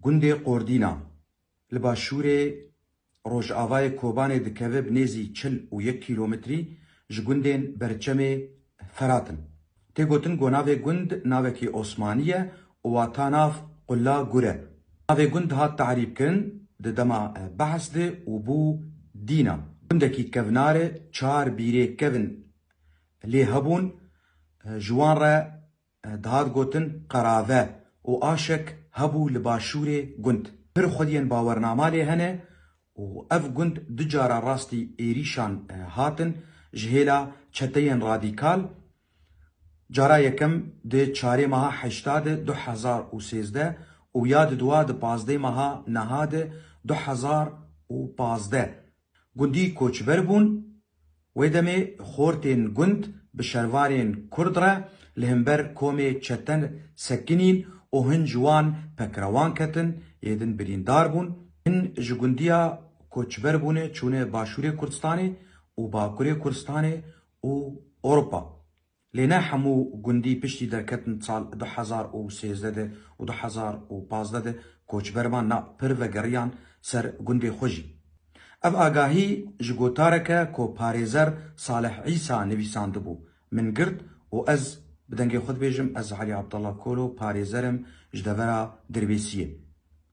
Gundê Qordîna li başûrê rojavayê Kobanê dikeve bi nêzî çil û yek kîlometrî ji gundên Berçemê Ferat in. Tê gotin ku navê gund navekî Osmanî ye û wata nav Qula Gur e. Navê gund hat tarîbkirin di dema behs de û bû Dîna. Gundekî kevnar e, çar bîrê kevn lê hebûn, ji wan re Dihar gotin qerave û aşek hebû li başûrê gund. Pir xwediyên bawernama lê hene û ev gund du cara rastî êrîşan hatin ji hêla çeteyên radîkal. Cara yekem di çarê meha heşta di du hezar û sêzdeh û ya di dua di pazdeh meha niha di du hezar û pazdeh Gundî koçber bûn. Wê demê xortên gund bi şervanên kurd re li himber komê çete sekinîn û hin ji wan pekrewan ketin, yê din birîndar bûn. Hin ji gundiya koçber bûne çûne Başûrê Kurdistanê û Bakurê Kurdistanê û Ewropa. Lê ne hemû gundî piştî derketin sal du hezar û sêzdeh de û du hezar û pazdeh de koçber van na pir vegeriyan ser gundê xwe jî. Ev agahî ji gotarek e ku parêzer Salih Îsa nivîsandibû, min girt û ez bi dengê xwe dibêjim ez Elî Abdallah Kolo parêzer im ji devera Dirbêsiyê.